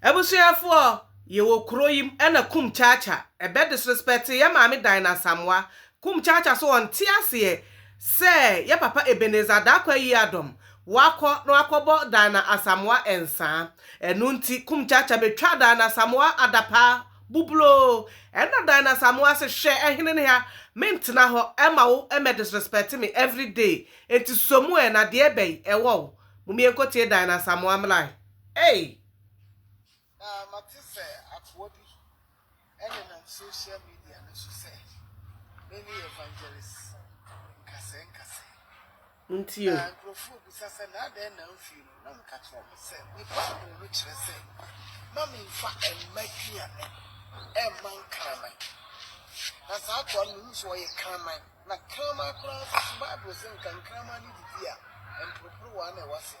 Abusuafo ɔ yɛ wɔ kuro yim ɛna kum chacha ɛbɛ disrespɛte yɛ maame dan na asamoa kum chacha so ɔ nte aseɛ sɛ yɛ papa ebenezer darko ayi adom wakɔ na wakɔ bɔ dan na asamoa nsaa ɛno nti kum chacha bɛ twa dan na asamoa adapaa bubloo ɛna dan na asamoa se hwɛ ɛhene ne ha me ntena hɔ ɛma wo ɛmɛ disrespɛte me every day nti somu ɛ na deɛ bɛyi ɛwɔ wo mo mie nkotie dan na asamoa mlae. Ei! Na mate sɛ akoa bi nenam social media no so sɛ mene Evangelist Nkasɛɛ Nkasɛɛ. Nti o. Na nkurɔfoɔ bisa sɛ na adɛn na amfie no, na meka kyerɛ wɔn sɛ me Bible no kyerɛ sɛ mma memfa mma aduane mma nkraman. Na saa akoa no mehu sɛ ɔyɛ kraman, na kraman koraa nso so Bible se nka nkraman no didi a, mporoporowa na ɛwɔ aseɛ.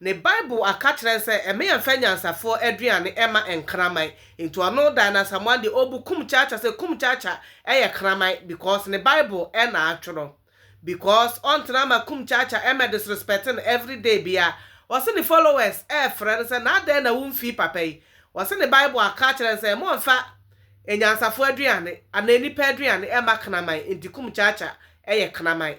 Ne Bible aka kyerɛ n sɛ ɛmɛ yɛn fɛ nyansafoɔ aduane ɛma nkraman nti ɔno Diana Asamoah deɛ ɔbu kum kyaakya sɛ kum kyaakya ɛyɛ kraman because ne Bible ɛna atwerɛ because ɔntena ama kum kyaakya ɛmɛ disrespect no everyday biaa ɔse ne followers ɛɛfrɛ no sɛ naa dɛn na wo nfii papa yi ɔse ne Bible aka akyerɛ n sɛ mo nfa nyansafoɔ aduane anaa nipa aduane ɛma kraman nti kum kyaakya ɛyɛ kraman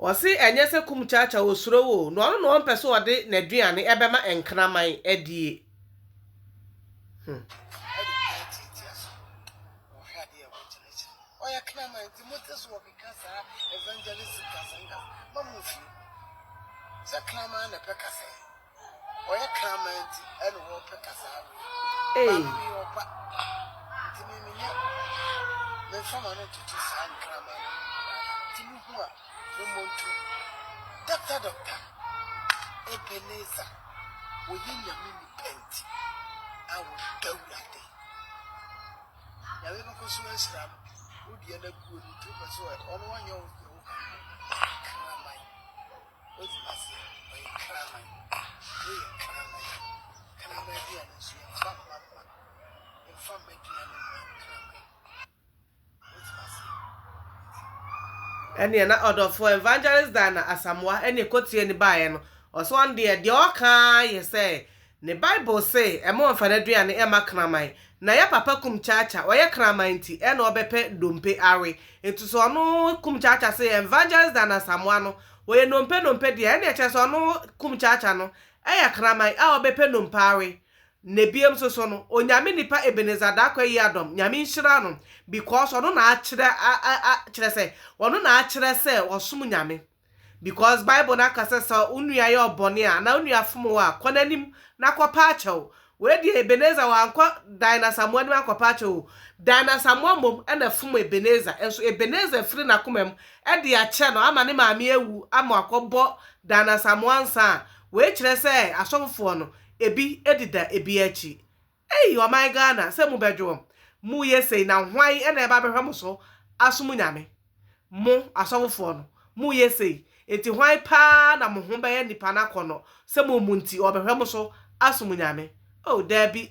Ɔse ɛnyɛ sɛ kum kyakya ɔsuro wo oo, na ɔno na ɔmpɛ sɛ ɔde n'aduane ɛbɛma nkraman adie. Hmm. Ɔyɛ kraman nti ɛna wɔpɛ kasaa no. Ei. Maame mi yɛ ɔba. Nti mi mi nyɛ mi nfa ma no ntoto saa nkraman no. Nti mi hu a mi mɔ ntu. Doctor doctor Ebenezer wɔyɛ nyame nipa nti a wɔda awurade. Nyame bɛkɔ so ahyira no. Wo deɛ na guo no nti wopɛ sɛ ɔno ɔnyɛ wo deɛ wo ka ho. Kraman. ɛneɛ na ɔdɔfoɔ Evangelist Diana Asamoah ɛne ɛkɔtuaa ni baeɛ no ɔsɛ ɔno deɛ deɛ ɔka ara yɛ sɛ Ne bible se ɛma ɔnfa naduane ɛma kraman na yɛ papa kum kyaakya ɔyɛ kraman nti ɛna ɔbɛpɛ dompe awe nti sɛ ɔno kum kyaakya se evangelist dan asamoa no ɔyɛ nompe nompe deɛ ɛne ɛkyerɛ sɛ ɔno kum kyaakya no ɛyɛ kraman a ɔbɛpɛ nompe awe na ebiem nso so no onyame nipa ebenezer daakwa yiadom nyame nhyira no because ɔno na akyerɛ a a kyerɛ sɛ ɔno na akyerɛ sɛ ɔsom nyame. Because Bible no aka sɛ sɛ wo nua yɛ wo bɔne a anaa wo nua fom wo a, kɔ n'anim na kɔpɛ akyɛw. Wei deɛ Ebenezer wankɔ Dan Asamoah anim ankɔpɛ akyɛw o. Dan Asamoah mmom na ɛfom Ebenezer, nso Ebenezer afiri n'akoma mu de akyɛ no ama ne maame awu ama wakɔbɔ Dan Asamoah nsa a, wei kyerɛ sɛ asɔfofoɔ no, ebi deda ebi akyi. Ei ɔman Ghana sɛ mo bɛdwoɔm mo yɛ sei na hwan na ɛba bɛhwɛ mo so asom Nyame? Mo asɔfofoɔ no mo yɛ sei nti hwan paa na mo ho bɛyɛ nipa no akɔnɔ sɛ mo mu nti ɔbɛhwɛ mo so asom Nyame oh daabi.